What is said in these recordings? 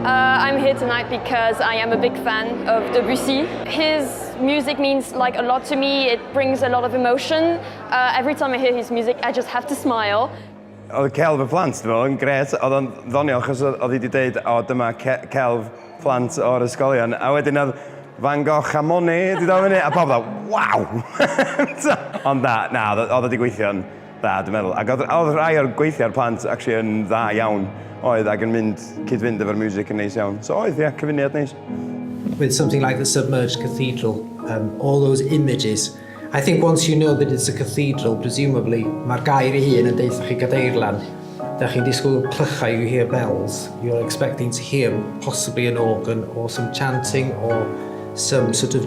Uh, I'm here tonight because I am a big fan of Debussy. His music means like a lot to me. It brings a lot of emotion. Uh, every time I hear his music, I just have to smile. Oedd celf y plant, dwi'n meddwl, yn gret. Oedd o'n ddonio, achos oedd hi wedi dweud, o, dyma celf plant o'r ysgolion. A wedyn oedd Van Gogh a Monet, dwi'n dweud fyny, a pawb dda, waw! Ond na, na, oedd wedi gweithio'n Da, dwi'n meddwl. Ac oedd, oedd rhai o'r gweithiau'r plant actually yn dda iawn, oedd, ac yn mynd, cyd-fynd efo'r music yn neis iawn. So oedd, ie, yeah, cyfuniad neis. with something like the submerged cathedral, um, all those images. I think once you know that it's a cathedral, presumably, mae'r gair ei hun yn deud chi gadeirlan, da chi'n disgwyl clychau, you hear bells, you're expecting to hear possibly an organ or some chanting or some sort of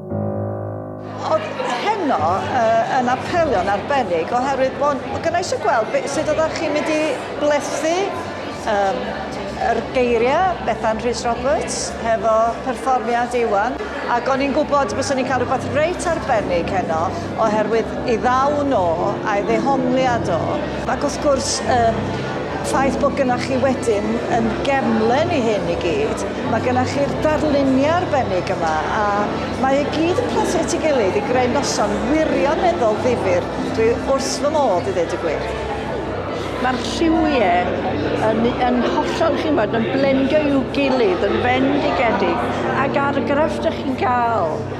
heno uh, yn apelio'n arbennig oherwydd bod, bod gynnau eisiau gweld beth sydd oeddech chi'n mynd i blethu um, yr geiriau Bethan Rhys Roberts hefo perfformiad Iwan ac o'n i'n gwybod bys ni'n cael rhywbeth reit arbennig heno oherwydd ei ddaw no a'i ddehongliad o, ac wrth gwrs y ffaith bod gynnach chi wedyn yn gefnlen i hyn i gyd, mae gynnach chi'r darluniau arbennig yma a mae e gyd yn plethu at ei gilydd i greu noson wirioneddol ddifyr, dwi wrth fy modd i ddeud y gwir. Mae'r lliwiau yn yn hollol chi'n gwybod yn blendio i'w gilydd yn fendigedig ac argraff dych chi'n cael.